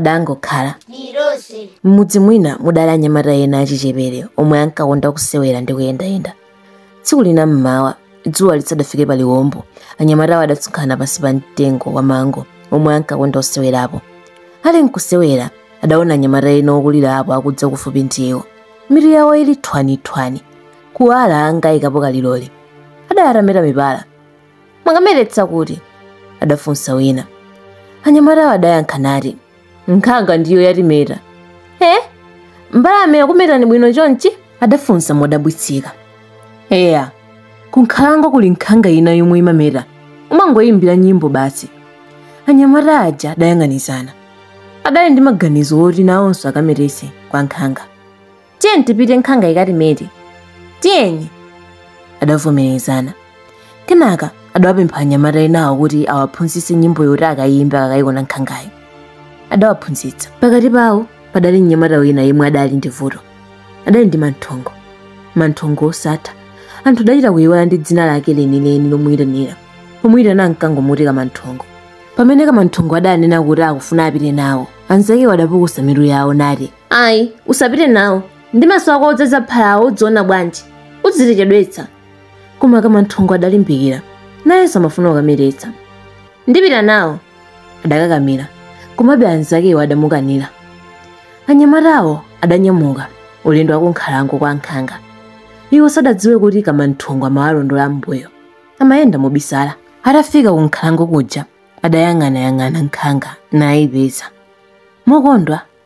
Padangokhala. Tili tonse. M'mudzi mwina mudali anyamata ena achichepere omwe ankakonda kusewera ndi kuyendayenda. Tsiku lina mmawa, dzuwa lisadafike pa liwombo, anyamatawo adasonkhana pansi pa mtengo wa mango omwe ankakonda kusewerapo. Ali nkusewera, adaona anyamata ena okulirapo akudza kufupi ndi iwo. Mitu yawo ili thwanithwani, kuwala ngati aikapo kalilole. Adali atameta mipala, mwakametetsa kuti adafunsa wina anyamatawo adayankha nati nkhanga ndiyo yatimeta e mbalame yakumetani bwino chonchi adafunsa modabwitsika eya kunkhalango kuli nkhanga ina yomwe imameta umangoyimbira nyimbo basi anyamata aja adayang'anizana adali ndi maganizo oti nawonso akametetse kwa nkhanga tiyeni tipite nkhanga ikatimete tiyeni adavomerezana kenaka adawapempha anyamata enawo kuti awaphunzitse nyimbo yoti akayimbe akayiona nkhangayo adawaphunzitsa pakati pawo padali mnyamata wina yemwe adali ndi vuto adali ndi manthongo manthongo osatha anthu adachita kuyiwala ndi dzina lake lenileni lomuyitanira pomuyitana ankangomuti kamanthongo pamene kamanthongo adanena kuti akufuna apite nawo anzakewo adapukusa mitu yawo nati ayi usapite nawo ndi maso ako odzaza phalawo udziona bwanji udzitichedwetsa koma kamanthongo adalimbikira nayenso amafuna kukametetsa ndipita nawo adakakamira komabe anzakewo adamukanira anyamatawo adanyamuka ulendo wakunkhalango kwa nkhanga iwo sadadziwe kuti kamanthongo amawalondola m'mbuyo amayenda mobisala atafika kunkhalango kuja adayang'anayang'ana nkhanga nayipeza mokondwa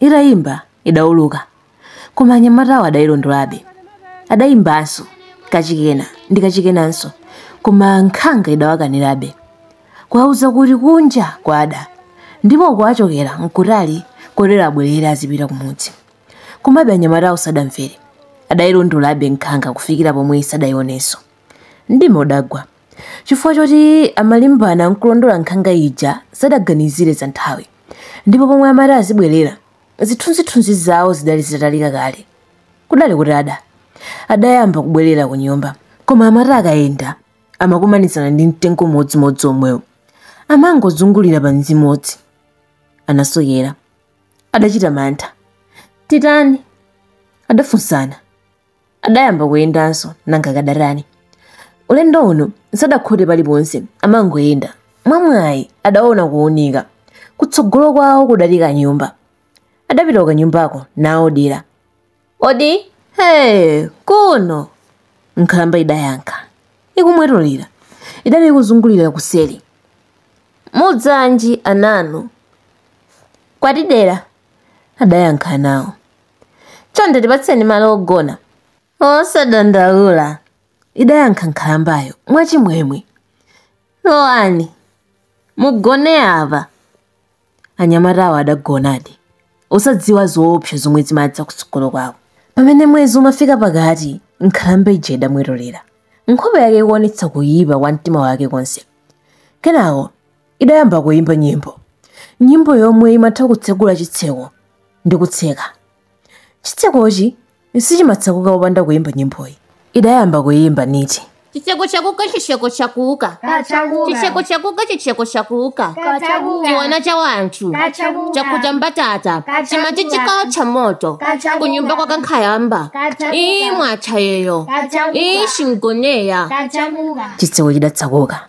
Itayimba, idauluka. Koma anyamatawo adayilondolabe. Adayimbanso, kachikena, ndi kachikenanso. Koma nkhanga idawakanirabe. Kuwauza kuti kunja kwada, ndipo uko achokera nkutali kotero abwerere azipita kumudzi. Komabe anyamatawo sadamvere. Adayilondolabe nkhanga kufikira pomwe sadayionenso. Mdima udagwa. Chifukwa choti amalimbana n'kulondola nkhanga ija, sadaganizire za nthawi. Ndipo pomwe amati azibwerera, zithunzithunzi zawo zidali zitatalika kale. Kudali kutada. Adayamba kubwerera kunyumba. Koma amati akayenda, amakumanizana ndi mtengo umodzimodzi omwewo. Amangozungulira pamodzimodzi. Anasokera. Adachita mantha. Titani? Adafunsana. adayamba kuyendanso nanga kadatani ulendo uno sadakhote paliponse amangoyenda mwamwayi adaona kuunika kutsogolo kwawo kudali kanyumba adapita kukanyumbako nawo dera odi ee kuno nkhalamba idayankha ikumwetulira idati ikuzungulira kuseri mudzeranji ananu kwatidera adayankha nawo chonde tipatseni malo ogona musadandaule idayankha nkhalambayo mwachimwemwe lowani mugone apa anyamatawo adagonadi osadziwa zoopsa zomwe zimadza kutsogolo kwawo pamene mwezi umafika pakati nkhalamba ija idamwetulira nkhope yake ikuonetsa kuyipa kwa mtima wake konse kenako idayamba kuyimba nyimbo nyimbo yomwe imatha kutsegula chitseko ndi kutseka chitsekochi sichimatsekuka popanda kuyimba nyimboyi idayamba kuyimba niti chitseko chakuka chitseko chakuka chitseko chakuka chitseko chakuka chiwana cha wanthu chakuta mbatata chimati chikawo cha moto kunyumba kwa kankhayamba ii mwachayeyo ii chimgoneya chitseko chidatsekuka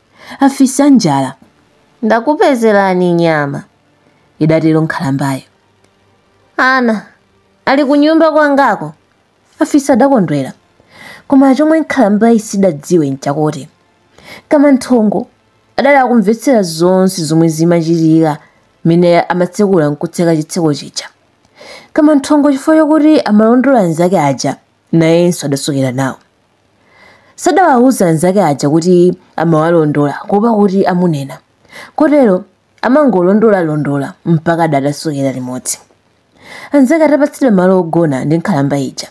afisi anjala. Ndakupezerani nyama, idatero nkhalambayo. Ana ali kunyumba kwangako, afisi adakondwera. Koma chomwe nkhalambayi sidadziwe nchakuti Kamanthongo adali akumvetsera zonse zomwe zimachitika mmene amatsekula nkutseka chitseko chija. Kamanthongo chifukwa chakuti amalondola anzake aja nayenso adasokera nawo. Sadawauza anzake aja kuti amawalondola kuopa kuti amunena. Kotero amangolondolalondola mpaka adatasokera limodzi. Anzake atapatsidwa malo ogona ndi nkhalamba ija,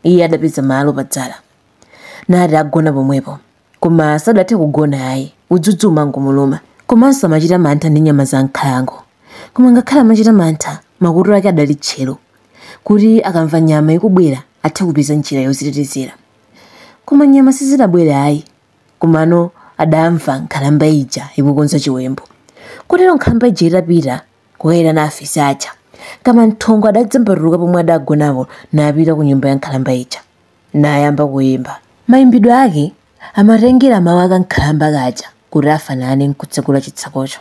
iye adapeza malo padzala. Nati agona pomwepo, koma sadathe kugona ayi, udzudzu umangomuluma. Komanso amachita mantha ndi nyama za m'nkhalango. Koma ngakhale amachita mantha, makutu ake adali tcheru, kuti akamva nyama ikubwera athe kupeza njira yozitetezera. Koma nyama sizidabwere ayi, komano adamva nkhalamba ija ikukonza chiwembu. Kotero nkhalamba ija itapita kukayitana afisi aja, Kamanthongo adadzambatuka pomwe adagonapo napita ku nyumba ya nkhalamba ija, nayamba kuyimba. Mayimbidwe ake amatengera mawu a kankhalamba kaja kuti afanane n'kutsekula chitsekocho.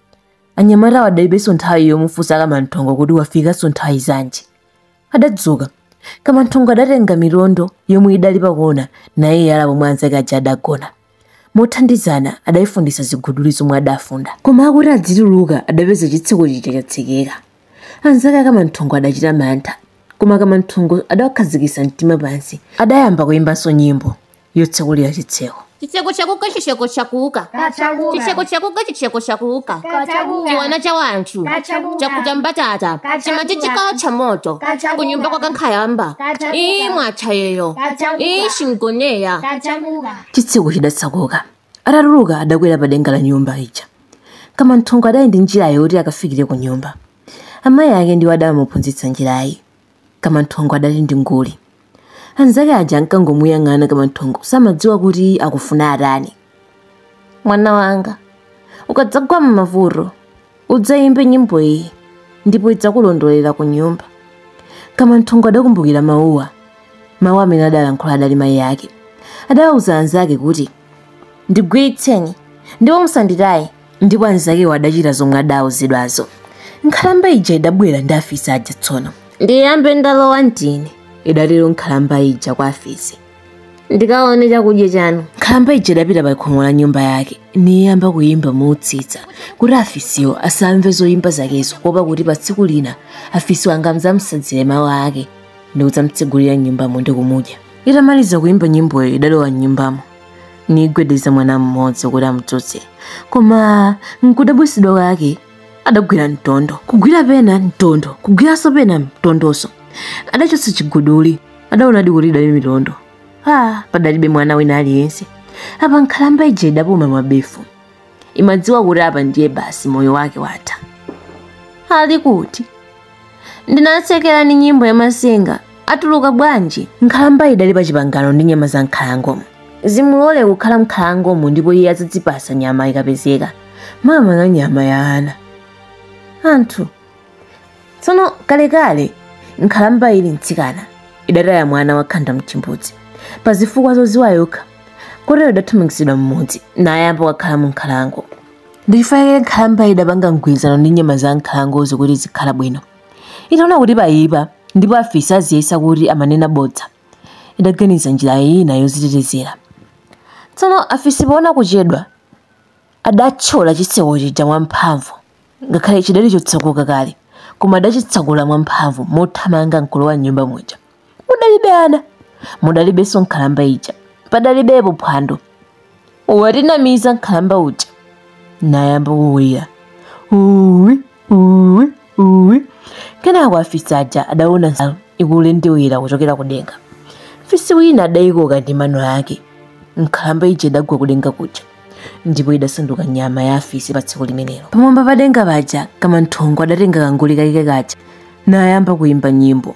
anyamata wadaibenso nthawi yomufunsa kamanthongo kuti wafikanso nthawi zanji adadzuka kamanthongo adatenga milondo yomwe idali pakona naye yala pomwe anzake aja adagona mothandizana adayifundisa ziguduli zomwe adafunda koma akuti adzituluka adapeza chitseko chija chatsekeka anzake akamanthongo adachita mantha koma kamanthongo adawakhazikisa mtima pansi adayamba kuyimbanso nyimbo yotsakulira chitseko chitseko chakuka chitseko chakuka Kachakuka. chitseko chakuka chitseko chakuka Kachakuka. chiwana cha wanthu Kachakuka. chakuta mbatata Kachakuka. chimati chikawocha moto Kachakuka. kunyumba kwa kankhayamba Kachakuka. iyi mwachayeyo Kachakuka. iyi shingoneya Kachakuka. chitseko chidatsakuka atatuluka adakwera pa denga la nyumba ija kamanthongo adali ndi njira yoti akafikire ku nyumba amayi ake ndiwo adamuphunzitsa njirayi kamanthongo adali ndi nguli anzake aja ankangomuyang'ana kamanthongo samadziwa kuti akufuna atani mwana wanga ukadzagwa m'mavuto udzayimbe nyimbo iyi ndipo idzakulondolera ku nyumba kamanthongo adakumbukira mawuwa mawu amene adalankhula adali mayi ake adawauza anzake kuti ndigwiritseni ndipo musanditaye ndipo anzakewo adachita zomwe adauzidwazo nkhalamba ija idabwera ndi afisi aja tsono ndiyambe ndalowa ndine idatero nkhalamba ija kwa afisi ndikaone chakudya chanu nkhalamba ija idapita pa khomo la nyumba yake niyamba kuyimba motsitsa kuti afisiwo asamve zoyimba zakezo kuopa kuti pa tsiku lina afisiwo angadzamtsanzire mawu ake ndi kudzamtsegulira nyumbamo ndi kumudya itamaliza kuyimba nyimboyo idalowa mnyumbamo nigwedeza mwana mmodzi kuti amdzutse koma nkudabwitsidwa kwake adagwira mtondo kugwira pena mtondo kugwiranso pena mtondonso adachotsa chiguduli adaonadi kuti idali mitondo ah, padalibe mwana wina aliyense apa nkhalamba ija idapuma mabefu imadziwa kuti apa ndiye basi moyo wake watha ali kuti ndinatsekera ni nyimbo ya matsenga atuluka bwanji nkhalamba idali pa chipangano ndi nyama za mnkhalangomo zimulole kukhala mnkhalangomo ndipo iye adzazipatsa nyama ikapezeka makamaka nyama ya ana anthu tsono kalekale nkhalamba ili mtsikana idataya mwana wakhanda mchimbudzi pa zifukwa zodziwa yokha kotero idathamangitsidwa m'mudzi nayamba kukhala mu nkhalango ndichifukwa chake nkhalamba idapanga mgwirizano ndi nyama za nkhalangozo kuti izikhala bwino itaona kuti payipa ndipo afisi aziyesa kuti amanena bodza idaganiza njira ina yodzitetezera tsono afisi poona kuchedwa Adathyola chitseko chija mwamphamvu, ngakhale chidali chotsakuka kale, koma adachitsakula mwamphamvu mothamanga nkulowa m'nyumba muja. Mudalibe ana, mudalibenso nkhalamba ija. Padalibepo phwando. Watinamiza nkhalamba uja. Nayamba kulira. Uwi, uwi. uwi kenako afisi aja adaona nsalu ikulendewera kuchokera kudenga fisi wina adayikoka ndi mano ake nkhalamba ija idagwa kudenga kuja ndipo idasanduka nyama ya afisi pa tsiku limenelo pamwamba padenga paja kamanthongo adatenga kanguli kake kaja nayamba kuyimba nyimbo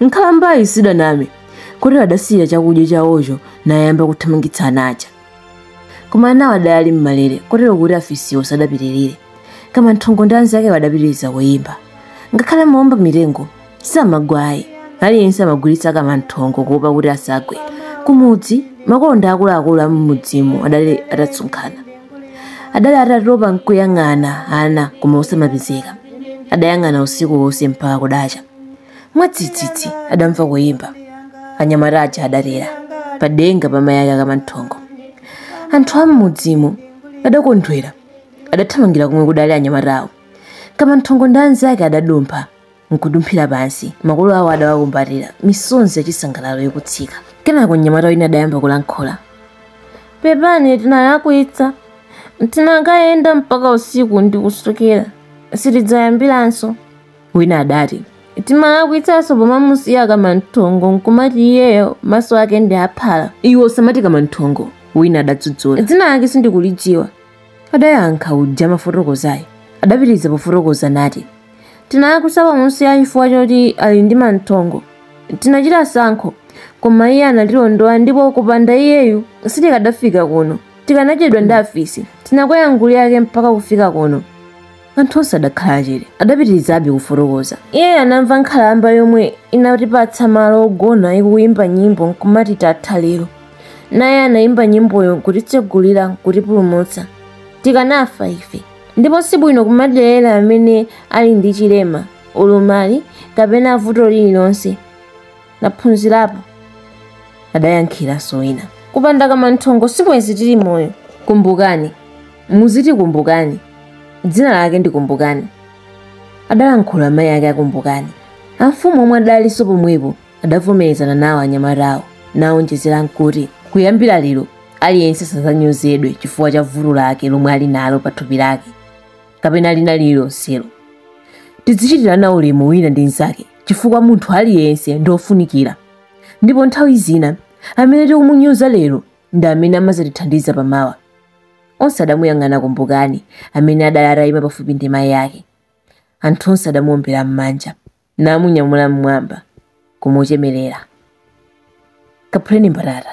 Nkhalambayi sidaname kotero adasiya chakudya chawocho nayamba kuthamangitsa ana aja. Koma anawo adali m'malere kotero kuti afisiwo sadapitirire. Kamanthongo ndi anzakewo adapitiriza kuyimba. Ngakhale amaomba mitengo samagwa ayi. Aliyense amagwiritsa Kamanthongo kuopa kuti asagwe. Kumudzi, makolo ndi akuluakulu a m'mudzimo adali atasonkhana. Adali atatopa nkuyang'ana ana koma osawapeza. Adayang'ana usiku wonse mpaka kudacha. mwadzidzidzi adamva kuyimba anyamata aja adatera padenga pa mayi ake a kamanthongo anthu am'mudzimo adakondwera adathamangira komwe kudali anyamata awo kamanthongo ndi anzake adadumpha nkudumphira pansi makolo awo adawakumbatira misonzi yachisangalalo ikutsika kenako mnyamata wina adayamba kulankhula pepani tinalakwitsa tinakayenda mpaka usiku ndikusokera sitidzayambiranso wina adati tinalakwitsanso pomamusiya kamanthongo nkumati iyeyo maso ake ndi aphala iwe usamati kamanthongo wina adadzudzula dzina lake sindikulidziwa adayankha uja amafotokozayu adapitiriza pofotokoza nati tinalakwitsa pomusiya chifukwa choti ali ndi manthongo tinachita sankho koma iye anatilondola ndipo kupanda iyeyu sitikadafika kuno tikanadyedwa ndi afisi tinakwera nguli yake mpaka kufika kuno anthu onse adakhala chete adapitirizabe kufotokoza iye anamva nkhalamba yomwe inatipatsa malo ogona ikuyimba nyimbo nkumati titha lero naye anayimba nyimboyo nkutitsegulira nkutipulumutsa tikanafa ife ndipo sibwino kumadelera amene ali ndi chilema ulumali kapena vuto lililonse naphunzirapo adayankhiranso wina kupanda kamanthongo sibwenzi tili moyo kumbukani muziti kumbukani dzina lake ndi kumbukani adalankhula mayi ake a kumbukani amfumu omwe adalinso pomwepo adavomerezana nawo anyamata awo nawonjezera kuti kuyambira lero aliyense sazanyozedwe chifukwa cha vuto lake lomwe ali nalo pa thupi lake kapena lina lililonselo tidzichitirana ulemu wina ndi mnzake chifukwa munthu aliyense ndi ofunikira ndipo nthawi zina amene tikumunyoza lero ndi amene amazatithandiza pamawa onse adamuyang'ana kumbukani amene adali atayima pafupi ndi mayi ake anthu onse adamuombera m'manja namunyamula m'mwamba nkumuchemerera kaphuleni mbatata